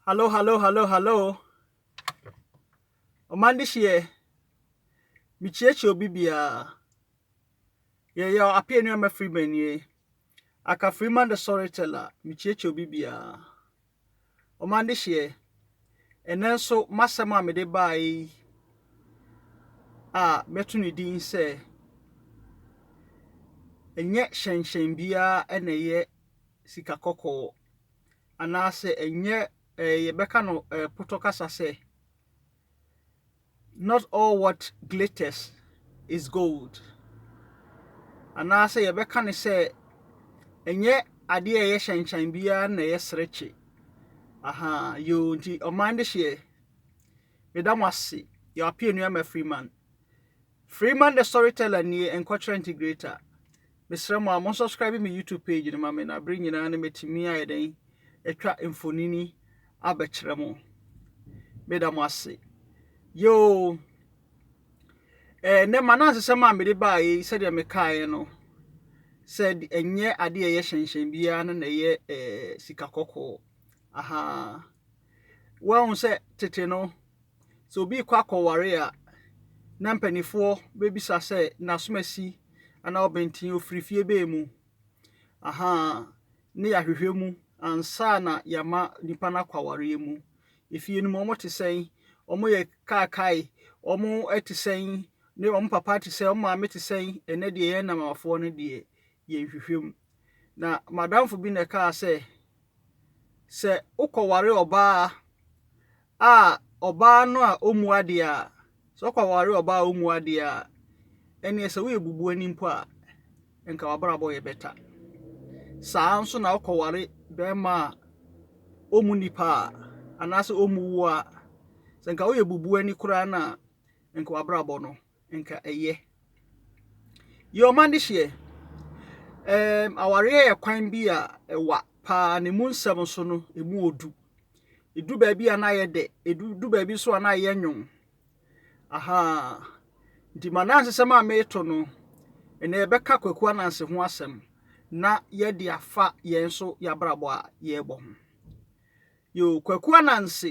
Hallo, hallo, hallo, hallo. Ɔman de hyeɛ, mekyiakyia obi biara. Yɛyɛ apia nnuama firi banie. Aka firi man the storyteller, mekyiakyia obi biara. Ɔman de hyeɛ, ɛnɛ nso m'asɛm a mede baa yi a mɛto ne din sɛ ɛnyɛ hyɛnhyɛn biara na ɛyɛ sika kɔkɔɔ. anaasɛ ɛnyɛ eh, yɛbɛka no eh, potɔ kasa sɛ not all what glitters is gold anaasɛ yɛbɛka ne sɛ ɛnyɛ adeɛ a ɛyɛ hyɛnhyɛn biara na ɛyɛ serekye aha yoo nti ɔman de hyeɛ meda mo ase yɛwapie nnuama freeman Freeman the Storyteller nie nkɔkyerɛ nti great a mesrɛ mo a mo subscribe me YouTube page no ma me na bere nyinaa no metumi ayɛ dɛn atwa mfonini abɛkyerɛ mo meda mo ase yoo ɛɛ nɛ ma na nsesɛm a mede baa yi sɛdeɛ mekaeɛ no sɛ ɛnyɛ adeɛ ɛyɛ hyɛnhyɛn biara no na ɛyɛ ɛɛ sika kɔkɔɔ ahaa Woahu sɛ tete no, sɛ obi rekɔ akɔware a, na mpanimfoɔ bɛbisa sɛ n'asomasi anaa ɔbɛnten ɔfiri fie bɛn mu. Aha, ne yɛahwehwɛ mu ansa na yɛama nipa no akɔ awareɛ mu. Efie no mu, wɔte sɛn? Wɔyɛ kaakae? Wɔte sɛn? Ne wɔn papa te sɛn? Wɔn maame te sɛn? Ɛnɛ deɛ yɛn nnamafoɔ no deɛ, yɛnhwehwɛ mu. Na m'adamfo bi na ɛkaa sɛ, sɛ wokɔware ɔbaa a, ɔbaa no a ɔmmu adeɛ a, sɛ wokɔware ɔbaa a ɔmmu adeɛ a, ɛneɛ sɛ woyɛ bubuani mpo a, nka wabrabɔ yɛ bɛta. Saa nso na wokɔware bɛrima a ɔmmu nipa a, anaasɛ ɔmmu wo a, sɛ nka woyɛ bubuani koraa no a, nka wabrabɔ no nka ɛyɛ. Yɛ wɔn adehyeɛ. Ɛɛm, awareɛ yɛ kwan bi a ɛwa paa ne mu nsɛm so no, ɛmu wɔ du. Ɛdu baabi a na ayɛ dɛ, ɛdu baabi nso a na ayɛ nwom. Aha, nti ma na nsesɛm a mereto no, ɛnna yɛbɛka Kwaku Ananse ho asɛm na yɛde afa yɛn nso yɛabrabɔ a yɛrebɔ ho. Yoo Kwaku Ananse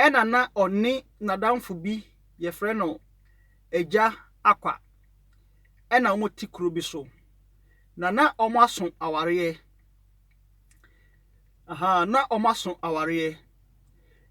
ɛna na ɔne nadamfo bi yɛfrɛ no Agya Akwa ɛna ɔmo te kuro bi so na na ɔmo aso awareɛ ahaa na ɔmo aso awareɛ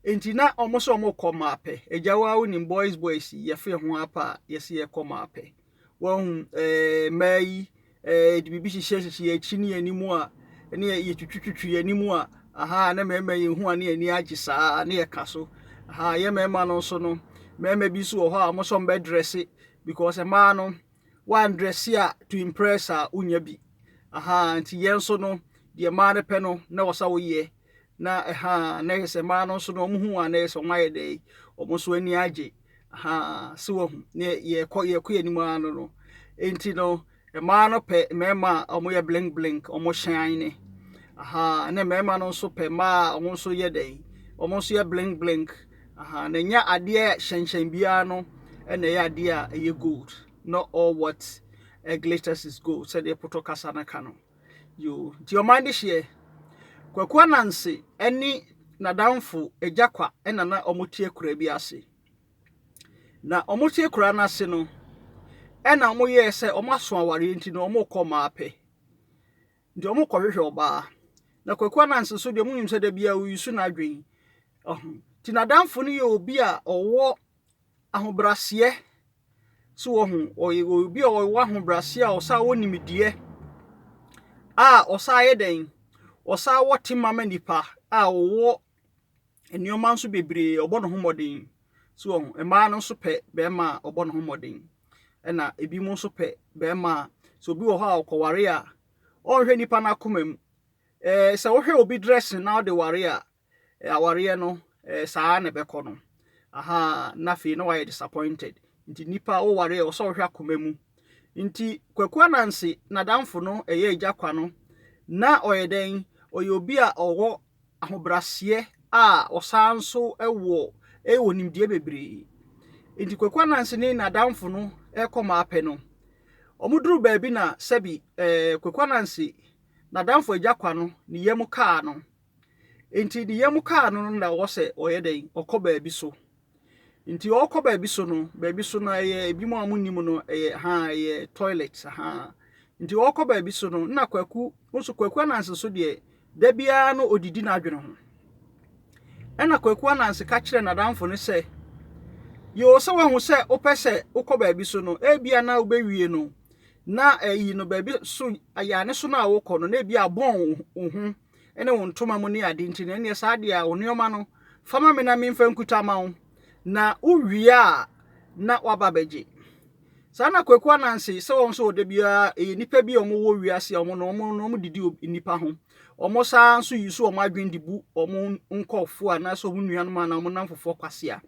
enti na ɔmo sɛ ɔmo kɔ Maapɛ Agya waa wonim boys boys yi yɛfeɛ ho ara paa yɛse yɛkɔ Maapɛ Wahu? Ɛɛ, mmaa yi, ɛɛ, yɛde biribi hyehyɛ hyehyɛ yɛn akyi ne yɛn anim a, ne yɛ yɛtwitwitwitwi yɛn anim a, aha, na mmarima yɛn hu a ne yɛn ani agye saa, ne yɛ ka so. Aha, yɛ mmarima no nso no, mmarima bi nso wɔ hɔ a wɔn nso wɔn bɛ dresse because mmaa no, wɔn dresse a to impress a, wonya bi. Aha, nti yɛn nso no, deɛ mmaa no pɛ no, na wɔ sɛ woyɛ. Na ɛhaa na yɛ sɛ mmaa no nso no wɔn ho wɔn a na yɛ sɛ wɔn ayɛ dɛ yi wɔn nso ani agye haa so wɔn ne yɛkɔ yɛkɔ yɛn anim ara no no nti no mmaa no pɛ mmarima a wɔn yɛ blink blink wɔn hyɛn ne haa ne mmarima no nso pɛ mmaa a wɔn nso yɛ dɛ yi wɔn nso yɛ blink blink haa na nya adeɛ hyɛnhyɛn biara no ɛna ɛyɛ adeɛ a ɛyɛ gold not all what glitters is gold sɛdeɛ pɔtɔ kasa no ka no. Yoo, nti ɔman de hyeɛ. Kwaku Ananse ne n'adamfo Agya Kwa na na wɔte akuraa bi ase. Na wɔte akuraa no ase no, ɛna wɔyɛɛ sɛ wɔaso awareɛ nti no wɔrekɔ mmaa pɛ. Nti wɔrekɔhwehwɛ ɔbaa. Na Kwaku Ananse nso deɛ monim sɛ da biara ɔyusu n'adwene. Ɔho. Nti n'adamfo no yɛ obi a ɔwɔ ahobraseɛ So wɔhu ɔyɛ obi a ɔwɔ ahobrɛase a ɔsan wɔ nimdeɛ a ɔsan yɛ dɛn? Ɔsan wɔ tema ma nipa a ɔwɔ nneɛma nso bebree ɔbɔ ne ho mmɔden. So wɔhu mmaa no nso pɛ bɛrima a ɔbɔ ne ho mmɔden. Ɛna ebinom nso pɛ bɛrima a sɛ obi wɔ hɔ a ɔkɔware a ɔnhwɛ nipa no akoma mu. Ɛɛ sɛ wohwɛ obi dressing na ɔde ware a awareɛ no eh, saa na ɛbɛkɔ no aha na afei na wayɛ disappointed nti nipa woware a ɔsɛ ɔhwɛ akoma mu nti kwaku ananse n'adamfo no ɛyɛ agya kwa no na ɔyɛ dɛn ɔyɛ obi a ɔwɔ ahobraseɛ a ɔsan nso wɔ ɛwɔ nimdeɛ bebree nti kwaku ananse ne n'adamfo no ɛkɔ maa pɛ no wɔduru baabi na sɛbi eh, kwaku ananse n'adamfo agya kwa no ne yam kaa no Enti ne yam kaa no no na wɔsɛ ɔyɛ dɛn, ɔkɔ baabi so. Nti ɔɔkɔ baabi so no, baabi so no ɛyɛ ebinom a monim no ɛyɛ haa ɛyɛ toilet haa. Nti ɔɔkɔ baabi so no na Kwaku, nso Kwaku Ananse nso deɛ da biara no ɔdidi n'adwene ho. Ɛna Kwaku Ananse ka kyerɛ n'adamfo no sɛ, yoo sɛ wahu sɛ wopɛ sɛ wokɔ baabi so no, ebia na wobɛwie no na ɛyi no baabi so ayaane so no a wokɔ no na ebia abɔn wo ho. ne wo ntoma mu ne ade nti no, ɛnneɛ saa deɛ a wo nneɛma no fa ma me na memfa nkuta ma wo na wowie a na waba bɛgye saa na kwaku ananse sɛ wɔn nso ɔda biara ɛyɛ nnipa bi a wɔwɔ wiase a wɔn na wɔn na wɔn didi nnipa ho wɔn saa nso yi so wɔn adwene de bu wɔn nkɔfoɔ anaasɛ wɔn nuanom anaa wɔn namfofoɔ kwasea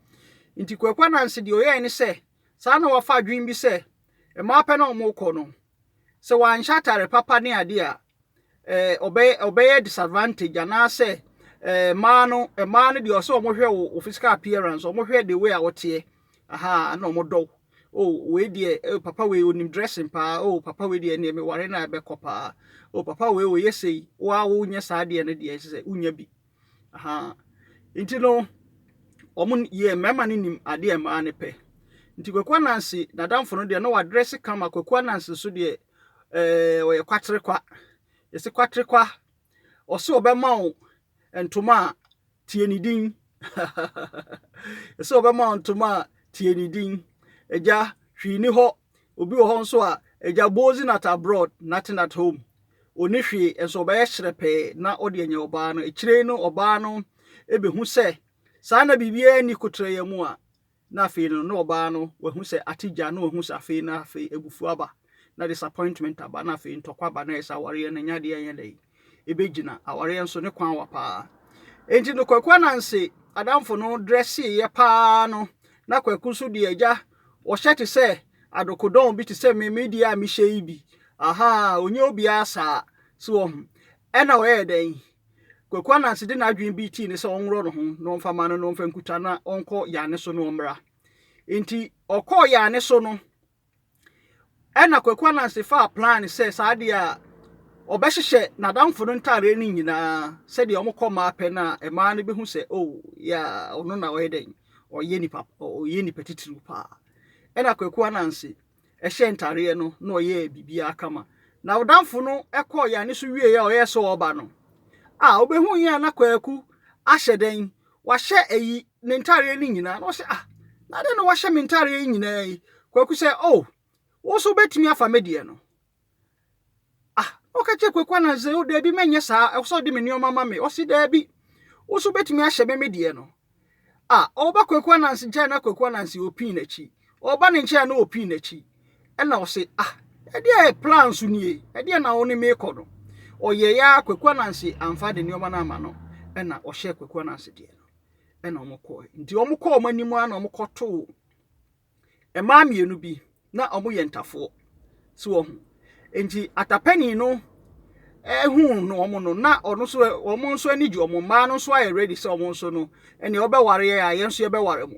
nti kwaku ananse deɛ ɔyɛɛ ne sɛ saa na wafa adwene bi sɛ mmaa pɛ na wɔn kɔ no sɛ wanhyɛ atare papa ne adeɛ a, eh, ɔbɛyɛ, ɔbɛyɛ disadvantage anaasɛ eh, mmaa no mmaa no deɛ ɔsɛ wɔhwɛ wo, wo physical appearance wɔhwɛ the way a wɔteɛ aha na wɔdɔ wo oh wei deɛ eh, papa wei onim dressing paa oh papa wei deɛ neɛ meware no a ɛbɛkɔ paa oh papa wei ɔyɛ sei woa wonyɛ saa deɛ no deɛ sɛ wonya bi Ahaa. Nti no, ɔmo n yɛɛ mmarima no nim adeɛ a mmaa no pɛ. Nti Kwaku Ananse n'adamfo no deɛ na wadrɛse kama, Kwaku Ananse nso deɛ ɛɛ ɔyɛ kwaterekwa. Yɛse kwaterekwa, ɔse ɔbɛma wo ntoma a tie ne din. Yɛse ɔbɛma wo ntoma a tie ne din. Agya, hwee ni hɔ. Obi wɔ hɔ nso a, agya bozi not abroad nothing at home, ɔnni hwee nso ɔbɛyɛ hyerɛpɛɛ na ɔde anya ɔbaa no. Akyire yi no ɔbaa no bɛhu sɛ saa na biribiara nni koterɛeɛ mu a, na afei no na ɔbaa no wahu sɛ ate gya, na wahu sɛ afei na afei abufuo aba, na disappointment aba, na afei ntɔkwa aba, na ayɛ sɛ awareɛ no nyɛ adeɛ a ɛnyɛ dɛ yi. ɛbɛgyina awareɛ nso ne kwan wa paa enti no kwaku ananse adamfo no drɛseeɛ paa no na kwaku nso deɛ agya wɔhyɛ te sɛ adokodɔn bi te sɛ me me deɛ a mehyɛ yi bi aha ɔnyɛ obiara saa so wɔ ho ɛna ɔyɛ dɛn kwaku ananse de n'adwene bi tii ne sɛ ɔnworɔ no ho na ɔmfa ma no na ɔmfa nkuta na ɔnkɔ yane so na ɔmmra nti ɔkɔɔ yane so no Ɛna Kwaku Ananse faa plan sɛ saa deɛ a ɔbɛhyehyɛ n'adamfo no ntaareɛ no nyinaa sɛdeɛ wɔkɔ mmaa pɛ no a mmaa no bɛhu sɛ o oh, yɛ ɔno na ɔyɛ dɛn ɔyɛ nipa ɔyɛ nipa titiriw paa ɛna Kwaku Ananse ɛhyɛ ntaareɛ no na ɔyɛ biribiara kama na ɔdamfo no ɛkɔɔ yɛn ani so wie a ɔyɛ sɛ ɔba no a wobɛhu yɛn na Kwaku ahyɛ dɛn wahyɛ ayi ne ntareɛ no nyinaa na ɔsɛ ah na dɛn na wahyɛ me ntareɛ yi nyinaa yi kwaku sɛ oh wo nso wobɛtumi afa me deɛ no ah na ɔka kyerɛ kwaku ananse o oh, daabi mɛnyɛ saa ɛwɔ sɛ ɔde me nneɛma ma me ɔse daabi wo nso wobɛtumi ahyɛ me me deɛ no ah ɔba kwaku ananse nkyɛn na kwaku ananse ɔpii n'akyi ɔba ne nkyɛn na ɔpii n'akyi ɛna ɔse ah ɛdeɛ yɛ plan so nie ɛdeɛ na wo ne me kɔ no ɔyɛ ya Kwaku Ananse amfa de nneɛma no ama no ɛna ɔhyɛ Kwaku Ananse deɛ no ɛna wɔn kɔɛ nti wɔn kɔ wɔn anim ara na wɔn kɔ too mmaa mmienu bi na wɔn yɛ ntafoɔ so wɔ ho nti atapɛni no ɛhu no wɔn no na ɔno nso wɔn nso ani gye wɔn mmaa no nso ayɛ ready sɛ wɔn nso no ɛnea ɔbɛware yɛ a yɛn nso yɛbɛware mo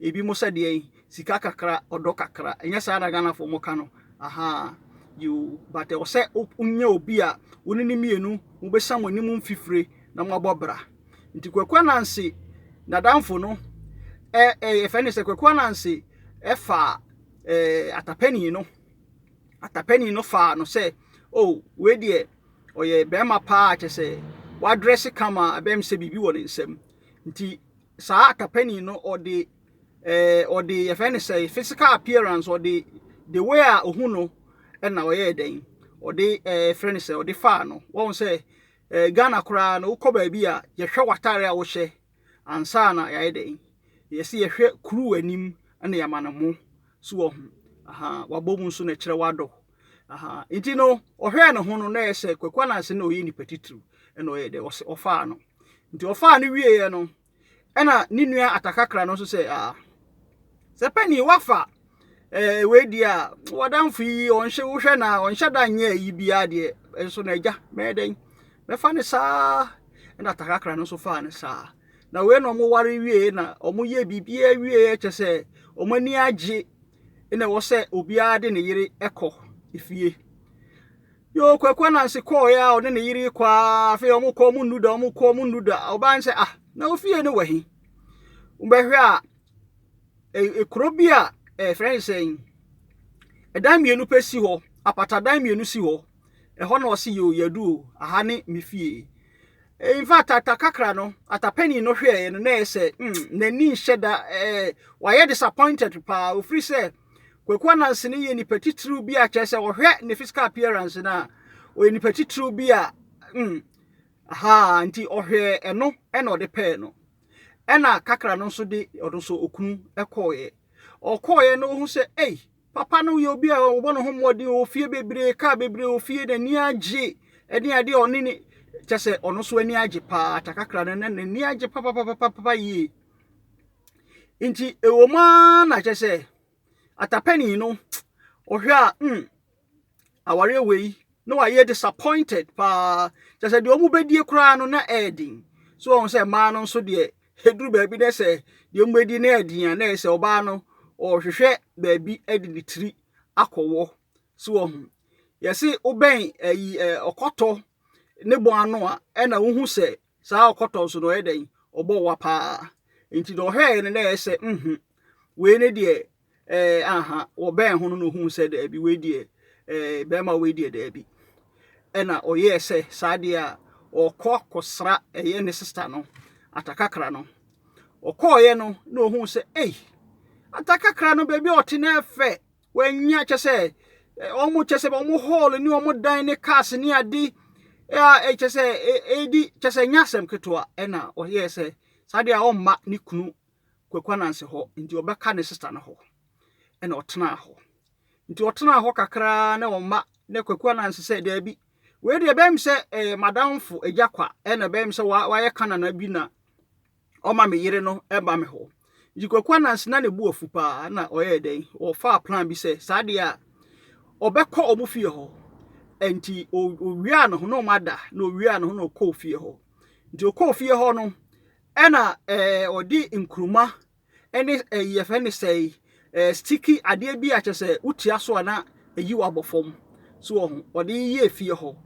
Ebinom sɛ deɛn? Sika kakra, ɔdɔ kakra. Ɛnyɛ saa na Ghanafoɔ mo ka no? Ahaa. Yoo. But ɛwɔ sɛ wonyɛ obi a wo ne no mmienu mo bɛsa mo anim mfifire na mo abɔ bra. Nti Kwaku Ananse n'adamfo no ɛ ɛ yɛfrɛ no sɛ Kwaku Ananse ɛfaa ɛɛ atapani no. Atapani no faa no sɛ oh wei deɛ ɔyɛ bɛrima paa kyɛ sɛ wadrɛse kama ɛbɛyɛ sɛ biribi wɔ ne nsam. Nti saa kapani no ɔde eh, ɔde yɛfrɛ no sɛ physical appearance ɔde the way a ohu no ɛna ɔyɛɛ dɛn ɔde eh, frɛ no sɛ ɔde faa no wɔn sɛ eh, ghana koraa no wokɔ baabi a yɛhwɛ w'atare a wohyɛ ansa na yɛayɛ dɛn yɛsɛ yɛhwɛ kuru anim na yɛama no mo so wɔ ho wabɔ mu nso na ɛkyerɛ wado Ahaa, nti no, ɔhwɛɛ ne ho no, na ɛyɛ sɛ Kwaku Ananse na ɔyɛ nipa titiriw, ɛna ɔyɛ dɛ, ɔse ɔfaa no. Nti ɔfaa no wieeɛ no, ɛna ne nua Atakakra no nso sɛ, ah, sɛ panin wafa ɛɛ wei deɛ a, wadanfo yi ɔnhyɛ wohwɛ na ɔnhyɛ da nyɛ ayi biara deɛ, nso na agya, mɛyɛ dɛn? Mɛfa ne saa. Ɛna Atakakra no nso faa ne saa. Na wei na wɔware wieeɛ na wɔyɛ biribiara wieeɛ kyɛ sɛ wɔn ani agye na ɛwɔ sɛ obiara de ne yere kɔ efie yoo kwaku anansi kɔɔeɛ a ɔne ne yere kɔ a afei wɔn kɔ wɔn nnu da wɔn kɔ wɔn nnu da ɔbaa nsɛ ah na ofie no wɔ he wobɛhwɛ a ekuro bi a ɛfrɛ ne sɛn ɛdan mmienu pɛ si hɔ apatadan mmienu si hɔ. Ɛhɔ na ɔse yoo yɛadu o, aha ne me fie. In fact, atakakra no, atapani no hwɛɛ no na ɛyɛ sɛ mm, n'ani nhyɛ da ɛɛ, wayɛ disappointed paa. Ofiri sɛ, Kwaku Anansi no yɛ nipa titiriw bi a kyerɛ sɛ ɔhwɛ ne physical appearance no a, ɔyɛ nipa titiriw bi a mm, aha nti ɔhwɛɛ ɛno ɛna ɔde pɛɛ no. Ɛna kakra no nso de ɔno nso okunu ɛkɔɔeɛ. Ɔkɔɔeɛ no ohu sɛ ei, Papa no yɛ obi a ɔbɔ ne ho mmɔden, ɔwɔ fie bebree, kaa bebree wɔ fie, n'ani agye ne adeɛ a ɔne ne kyɛ sɛ ɔno nso ani agye paa takakra no na n'ani agye papapapapa yie. Nti ɛwɔ mu ara na kyɛ sɛ atapɛni no ɔhwɛ a mm awareɛ wei na wayɛ disappointed paa kyɛ sɛ deɛ wɔbɛdie koraa no na ɛyɛ den. So wɔn sɛ mmaa no nso deɛ Ɛduru baabi na sɛ deɛ wɔbɛdi no yɛ den a, na ɛyɛ sɛ ɔbaa no ɔrehwehwɛ baabi de ne tiri akɔwɔ. So wɔhu yɛse wobɛn ayi ɔkɔtɔ ne bɔn ano a ɛna wohu sɛ saa ɔkɔtɔ nso no ɔyɛ dɛn ɔbɔ wa paa nti na ɔhwɛɛ no na ɛyɛ sɛ nhu wei ne deɛ Ɛɛ, anha. Wɔbɛn ho no na ɔhuu sɛ daabi, wei deɛ, ɛɛ, bɛrima wei deɛ daabi. Ɛna ɔyɛɛ sɛ saa deɛ a, ɔrekɔ akɔsra ɛyɛ ne sista no, Atakakra no. Ɔkɔɔeɛ no na ɔhuu sɛ, ei, Atakakra no baabi a ɔte no yɛ fɛ. Wanya kyɛ sɛ, wɔn kyɛ sɛ wɔn hall ne wɔn dan ne cars ne ade a kyɛ sɛ ɛdi kyɛ sɛ nya asɛm ketewa. Ɛna ɔyɛɛ sɛ saa deɛ a ɔmma ne kunu Kwaku Ananse hɔ nti ɔbɛka ne sista no hɔ na ɔtenaa hɔ. Nti ɔtenaa hɔ kakraa na ɔma na Kwaku Ananse sɛ daabi wei deɛ ɛbɛyɛ me sɛ ɛyɛ madamfo agya kwa na ɛbɛyɛ me sɛ wayɛ ka nana bi na ɔma me yere no ba me hɔ. Nti Kwaku Ananse na ne bo afu paa na ɔyɛɛ dɛn ɔfaa plan bi sɛ saa deɛ a ɔbɛkɔ ɔmo fie hɔ nti ɔwiaa ne ho na ɔmo ada na ɔwiaa ne ho na ɔkɔɔ fie hɔ. Nti ɔkɔɔ fie hɔ no Ɛna ɔde nkruma ne yɛfɛ ne sɛ sticky adeɛ bi a kyɛ sɛ wotia so a na ɛyi wabɔ fam so wɔ ho ɔde yɛ efie hɔ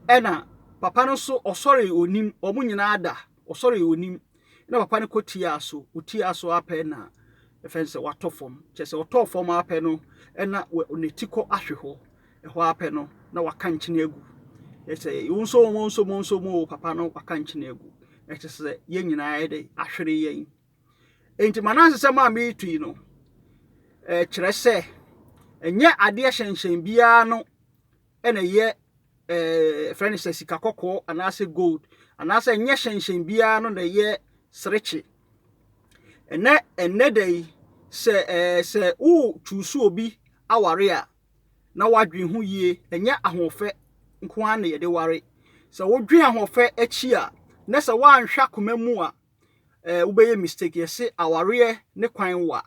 ɛna papa no nso ɔsɔre onim wɔn nyinaa da ɔsɔre onim na papa no kɔ tia so wotia so apɛ na ɛfɛn sɛ watɔ fam kyɛ sɛ ɔtɔ fam apɛ no ɛna ne ti kɔ ahwe hɔ Ɛhɔ ara pɛ no, na waka nkyene agu. Ɛkyerɛ sɛ wonso wɔn nso mo nso mo papa no waka nkyene agu. Ɛkyerɛ sɛ yɛn nyinaa yɛ dɛ ahwere yɛn. Enti Manase sɛm a meretu yi no, ɛkyerɛ sɛ ɛnyɛ adeɛ hyɛnhyɛn biara no ɛna ɛyɛ ɛɛ fɛn sɛ sika kɔkɔɔ anaasɛ gold anaasɛ ɛnyɛ hyɛnhyɛn biara no na ɛyɛ serekye. Ɛnɛ ɛnɛ da yi sɛ ɛɛ sɛ wo tuusu obi aware a na woadwen ho yie. Ɛnyɛ ahoɔfɛ nko ara na yɛde ware. Sɛ wodwen ahoɔfɛ akyi a, na sɛ woanhwɛ akoma mu a, eh, wobɛyɛ mistake. Yɛse awareɛ ne kwan wa.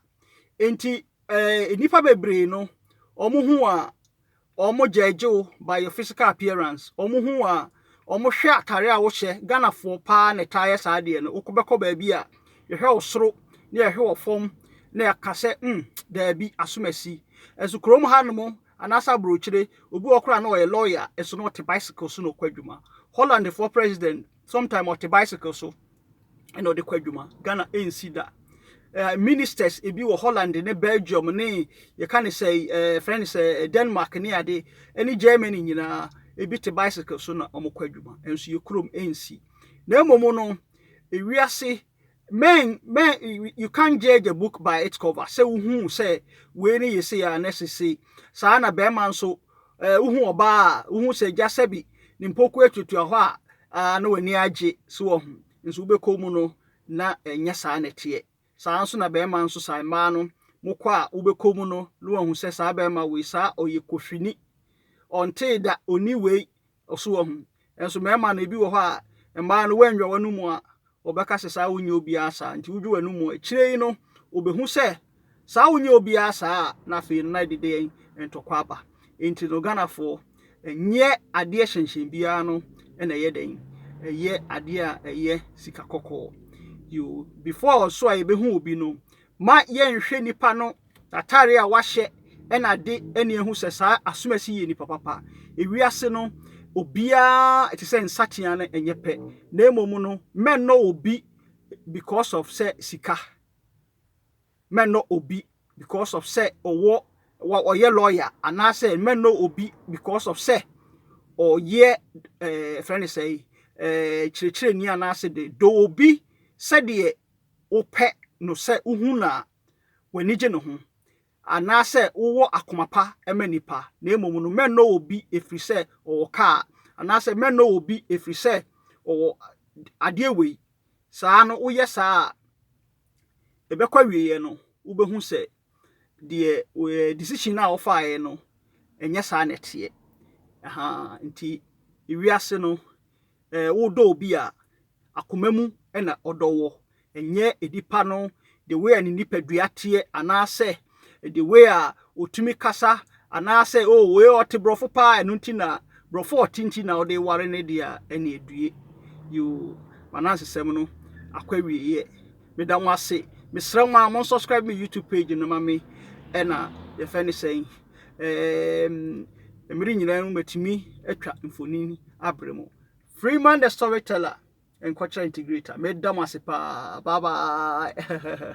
Enti, eh, nnipa bebree no, wɔn ho a wɔn gyaagye wo by your physical appearance. Wɔn ho a Ɔmo hwɛ atare a wohyɛ, Ghanafoɔ paa na ɛtaa yɛ saa deɛ no, wokɔ bɛkɔ baabi a yɛhwɛ wo soro na yɛhwɛ wɔ fam na yɛka sɛ mm daabi asomasi. Nso kurom ha nom anaasɛ abrokyire obi wɔ hɔ koraa na ɔyɛ lawyer nso na ɔte bicycle so na ɔkɔ adwuma. Hollandfoɔ president sometime ɔte bicycle so ɛna ɔde kɔ adwuma ghana ɛnsi da uh, ministers ebi wɔ holland ne belgium ne yɛka ne sɛ uh, frɛ ne sɛ denmark ne ade ne germany nyinaa ebi te bicycle so na wɔkɔ adwuma ɛnso yɛ kurom ɛnsi na mmom no ewiase men men you can't judge a book by its cover sɛ wohu sɛ wei ne yɛ sei a na sesei saa na bɛrima nso Eh, wohu ɔbaa a, wohu sɛ gya sɛbi ne mpoku atuatua hɔ a, ah, na w'ani agye so wɔ ho. Nso wobɛkɔ mu no, na ɛnyɛ saa na ɛteɛ. Saa nso na bɛrima nso saa, mmaa no, mokɔ a wobɛkɔ mu no, na wahu sɛ saa bɛrima wei, saa ɔyɛ kofini. Ɔntee da, ɔni wei, So wahu? Nanso mmarima no, ebi wɔ hɔ a, mmaa no woannwa w'anom a, wɔbɛka sɛ saa wonyɛ obiara saa, nti wodwo w'anom a, akyire yi no, wɔbɛhu sɛ saa wonyɛ obiara saa a, na afei no na ɛde deɛn ntɔkwa aba. Nti no Ghanafoɔ, ɛnyɛ adeɛ hyɛnhyɛn biara no na ɛyɛ dɛn, ɛyɛ adeɛ a ɛyɛ sika kɔkɔɔ. Yoo, before so a yɛbɛhu obi no, ma yɛnhwɛ nipa no Atare a wahyɛ na ade ani ahu sɛ saa asomasi yi yɛ nipa papa. Ewiase no, obiara te sɛ nsateaa no ɛnyɛ pɛ, na mmom no mɛnnɔ obi because of sɛ sika. Mɛnnɔ obi because of sɛ ɔwɔ wa ɔyɛ lawyer anaasɛ mɛnnɔ obi because of sɛ ɔyɛ ɛɛ fɛn ne sɛ ɛɛ kyerɛkyerɛni anaasɛ de dɔ obi sɛdeɛ wopɛ no sɛ wohu no a w'ani gye ne ho, anaasɛ wowɔ akoma pa ma nnipa, na mmom no, mɛnnɔ obi ɛfiri sɛ ɔwɔ kaa, anaasɛ mɛnnɔ obi ɛfiri sɛ ɔwɔ adeɛ wei, saa no, woyɛ saa a, ɛbɛkɔ awieeɛ no, wobɛhu sɛ deɛ decision no a wɔfaaeɛ no, ɛnyɛ saa na ɛteɛ. Aha, nti wiase no, wodɔ obi a, akoma mu na ɔdɔ wɔ, ɛnyɛ nipa no the way a ne nipadua teɛ anaasɛ the way a ɔtumi kasa anaasɛ o oh, wei ɔte borɔfo paa ɛno nti na borɔfo ɔte nti na ɔde ware ne deɛ a ɛne adue yoo manansesɛm no akɔ awieeɛ meda mo ase mesrɛ mo a mo subscribe me youtube page no ma me ɛna yɛfɛ ne sɛn Ɛɛm, mmere nyinaa mu matumi atwa mfonini abrɛ mu. Freeman the storyteller, nkwatra integrator, meda mo ase paa. Bye bye.